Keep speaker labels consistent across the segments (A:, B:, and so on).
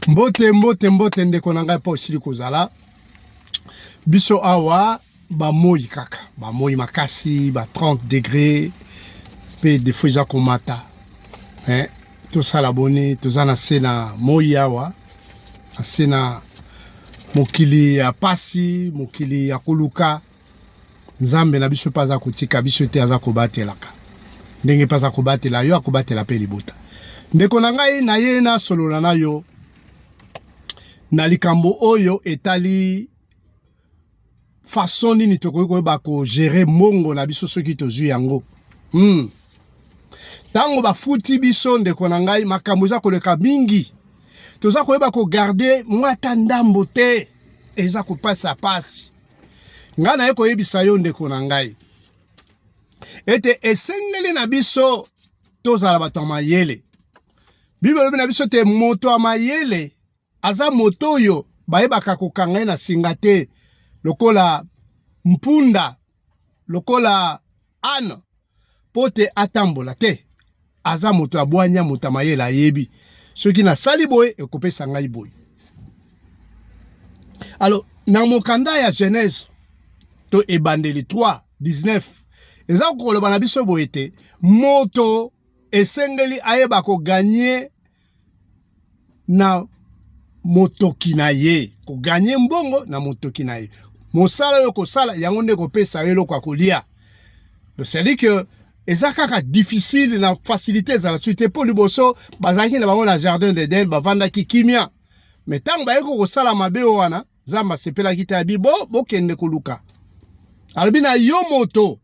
A: Mbote mbote mbote ndeko na ngai mpo osili kozala biso awa bamoyi kaka bamoyi makasi ba 30 degre mpe defo eza komata eh, tosala boni toza na se na moyi awa na se na mokili ya pasi mokili ya koluka nzambe na biso mpe aza kotika biso te aza kobatelaka ndenge mpe aza kobatela yo akobatela mpe libota ndeko na ngai na ye nasolola na yo na likambo oyo etali façon nini tokoki koyeba kogere mongo na biso soki tozwi yango hmm. ntango hmm. bafuti biso ndeko na ngai makambo eza koleka mingi toza koyeba kogarde mwa ata ndambo te eza kopasa pasi ngai naye koyebisa yo ndeko na ngai ete esengeli na biso tozala bato ya mayele biblia elobi na biso te moto ya mayele aza moto oyo bayebaka kokanga ye na singa te lokola mpunda lokola ane mpo te atambola te aza moto ya bwanya moto ya mayele ayebi soki nasali boye ekopesa ngai boye alors na mokanda ya genèse to ebandeli 3 19 eza koloba na biso boye te moto esengeli ayeba koganye na motoki na ye, koganye mbongo na motoki na ye. Mosala oyo kosala yango nde kopesa yo eloko ya kolia. Cestadire que eza kaka difficile na facilité ezala soki te mpo liboso bazalaki na bango na jardin d'Eden bavandaki kimia me ntango bayeki kosala mabe oyo wana nzambe asepelaki te abi bo bokende koluka alobi na yo moto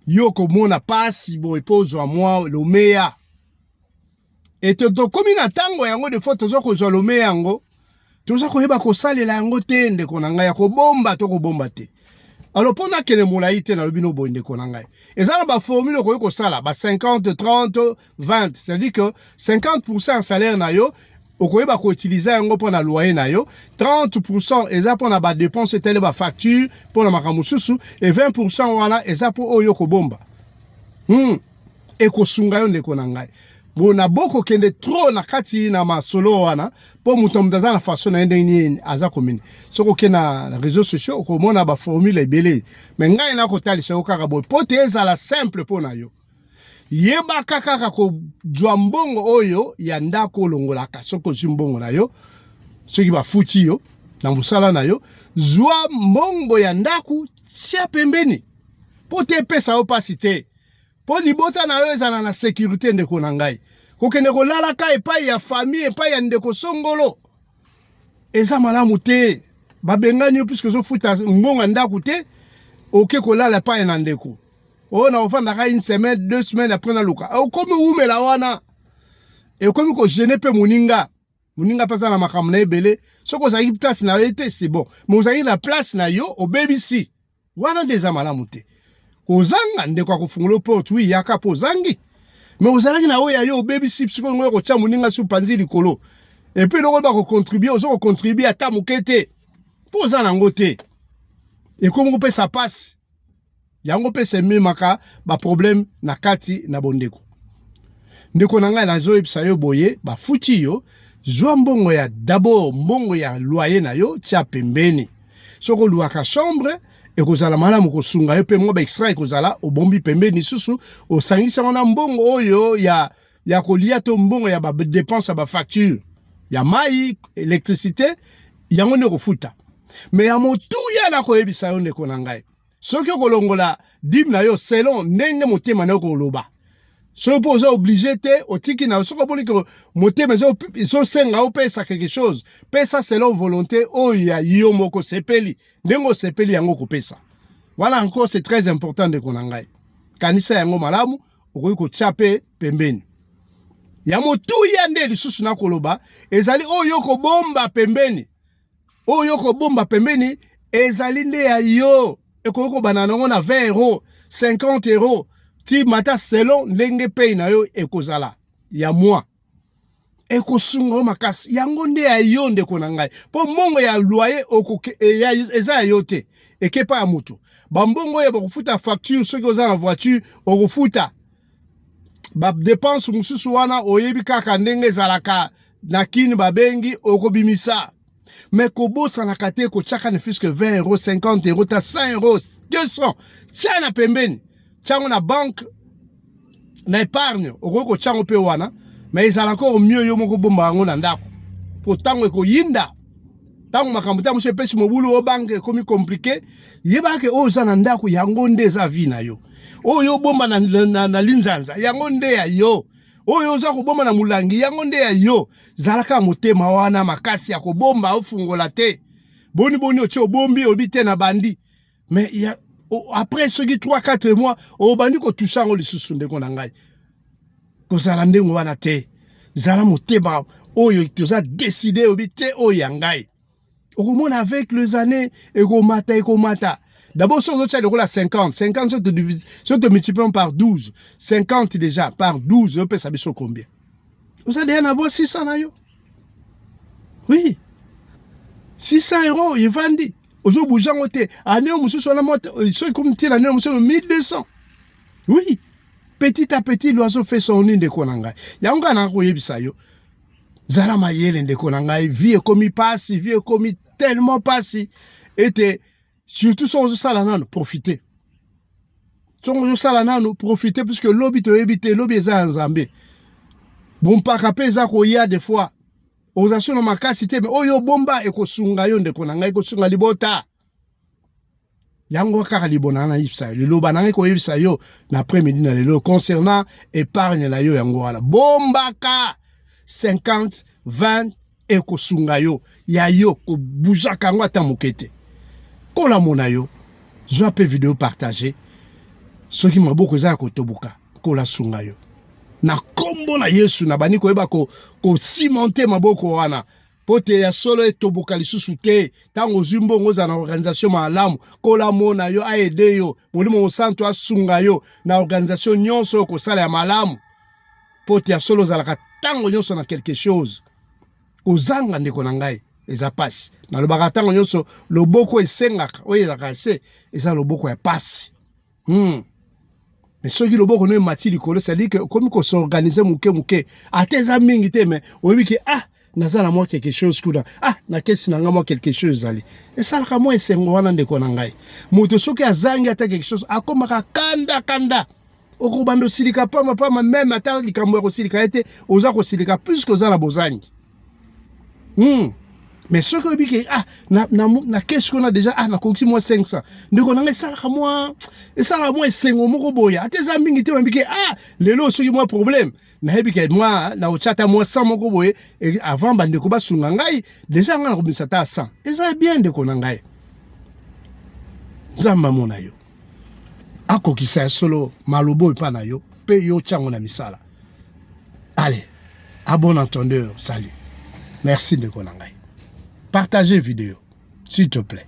A: yo komona pasi boye mpo ozwa mwa lomeya ete tokomi na ntango yango defo toza kozwa lomeya yango toza koyeba kosalela yango te ndeko na ngai ya kobomba to kobomba te alo mpo nakende molai te nalobi no boye ndeko na ngai eza na baformule okoki kosala ba 50 30 20 c'est-à-dire que 50 pourcent ya salaire na yo okoyeba ko utiliser yango mpo na loyer na yo 30% eza mpo na ba dépenses etali ba facture mpo na makambo mosusu e 20% wana eza mpo oyo okobomba hmm. ekosunga yo ndeko na ngai bona bokokende trop na kati na masolo wana mpo moto na moto aza na façon na ye ndenge nini aza komini soki oke na réseau sociaux okomona baformule ebele me ngai nakotalisa yo kaka boye mpo te ezala simple mpo na yo yebaka kaka kozwa mbongo oyo ya ndako olongolaka soki ozwi mbongo na yo soki bafuti yo na mosala na yo zwa mbongo ya ndako tia pembeni mpo te epesa yo mpasi te mpo libota na yo ezala na sekurite ndeko na ngai kokende kolalaka epai ya famille epai ya ndeko songolo eza malamu te babengani yo puiske ozofuta mbongo ya ndako te oke kolala epai na ndeko oyo na ofandaka une semaine deux semaines après naluka ah, okomi wumela wana ekomi kogene mpe moninga moninga mpe aza na makambo na ebele soki ozalaki place na yo te c'est bon mais ozalaki na place na yo obebisi wana nde eza malamu te kozanga ndeko akofungola porte wi yaka mpo ozangi me ozalaki na oyo ya yo obebisi sikoyo ngoyo kotya moninga su panzi likolo epuis eloko ba kocontribue oza kocontribue ata moke te mpo oza nango te ekomi kopesa mpasi yango mpe sememaka baproblème na kati na bondeko ndeko na ngai nazoyebisa yo boye bafuti yo zwa mbongo ya dabord mbongo ya loyer na yo tya pembeni soki oluaka chambre ekozala malamu kosunga yo mpe mwa baextra ekozala obombi pembeni lisusu osangisi yango na mbongo oyo ya ya kolia to mbongo ya badepense ya bafacture ya mai elektricité yango nde okofuta me ya motuya nakoyebisa yo ndeko na ngai soki okolongola dime na yo selon ndenge motema na yo koloba soki mpo oza oblige te otiki na soki omoni ke motema ezosenga opesa quelque chose pesa selon volonté oyo ya yo moko osepeli ndenge osepeli yango okopesa wana encore c'est très important ndeko na ngai kanisa yango malamu okoki kotya mpe pembeni ya motuya nde lisusu nakoloba ezali oyo kobomba pembeni oyo kobomba pembeni ezali nde ya yo ekoki kobanda nango na 20 euro 50 euro ti mata selon ndenge pei na yo ekozala ya mwa ekosunga yo makasi yango nde ya yo ndeko na ngai mpo mbongo ya loye eh, eza ya yo te ekepa ya moto bambongo oyo bakofuta facture soki oza na voiture okofuta badepense mosusu wana oyebi kaka ndenge ezalaka na kini babengi okobimisa me kobosanaka te kotyaka ne fiske 20 euro 50 euro ta 100 euro 200 tya na pembeni tyango na banke na épargne okoki kotya yango mpe wana me ezalaka o mieux yo moko bomba yango na ndako mpo ntango ekoyinda ntango makambo ntango mosusu epesi mobulu o banke ekomi komplike yebaka ke oyo oza na ndako yango nde eza vi na yo oyo obomba na, na, na, na linzanza yango nde ya yo oyo oza kobomba na molangi yango nde ya yo zalaka motema wana makasi ya kobomba ofungola te boni boni otie obombi oyebi te na bandi mais ya, o, après soki 3 4 mois obandi kotusa yango lisusu ndeko na ngai kozala ndenge wana te zala motema oyo toza deside oyebi te oyo ya ngai okomona avec les années ekomata ekomata d'abord soki ozotya lokola 50 50 soki tomultiplions par 12 50 déjà par 12 ozopesa biso combien oza deya na bwa 600 na yo oui 600 euro evandi ozobouge yango te ane oyo mosusu wana euh, soki komitiela ane oyo mosusu 1200 oui petit à petit l'oiseau fait son nini ndeko na ngai yango ngai nanga koyebisa yo zala mayele ndeko na ngai vie ekomi pasi vie ekomi tellement pasi ete surtout soki ozosala nano profite soki ozosala nano profite puisque lobi toyebi te lobi eza ya nzambe bompaka mpe eza koya de fois oza so na makasi te me oyo obomba ekosunga yo ndeko na ngai ekosunga libota yango kaka libona na yebisa yo liloba na ngai koyebisa yo na après midi na lelo concernant épargne na yo yango wana bombaka 50 20 ekosunga yo ya yo kobuzaka yango ata moke te kolamona yo zwa mpe video partage soki maboko eza ya kotoboka kolasunga yo na nkombo na yesu nabandi koyeba kosimonte ko maboko wana mpo te ya solo etoboka lisusu te ntango ozwi mbongo ozala na organisation malamu kola mona yo aede yo molimo mosantu asunga yo na organisation nyonso oyo kosala ya malamu mpo te ya solo ozalaka ntango nyonso na quelque chose kozanga ndeko na ngai eza pasi nalobaka ntango nyonso loboko esengaka oyo ezalaka se eza loboko ya pasi hmm. mais soki loboko no emati likolo cestadire ke okomi kosorganize moke moke ata eza mingi te mais oyebi ke ah naza na mwa quelque chose kuna ah na kesi na ngai mwa quelque chose ezali esalaka mwa esengo wana ndeko na ngai moto soki azangi ata quelque chose akomaka kanda kanda okobanda osilika pama pama meme ata likambo ya kosilika ye te oza kosilika puiske oza na bozangi hmm. mais soki oyebi ke ah, na, na, na kesi kuna deja ah, nakokisi mwa 500 ndeko na ngai esalaka mwa esalaka mwa esengo moko boye ata eza mingi te oyambi ke ah, lelo soki mwa problème nayebi ke mwa naotya ata mwa 100 moko boye avant bandeko basunga ngai deja ngai nakobimisa ata 100 eza bien ndeko na ngai nzambe amona yo akokisa ya solo maloba oyo epai na yo mpe yo otya yango na misala ale a bon entendeur salut merci ndeko na ngai partage video s'il te plaît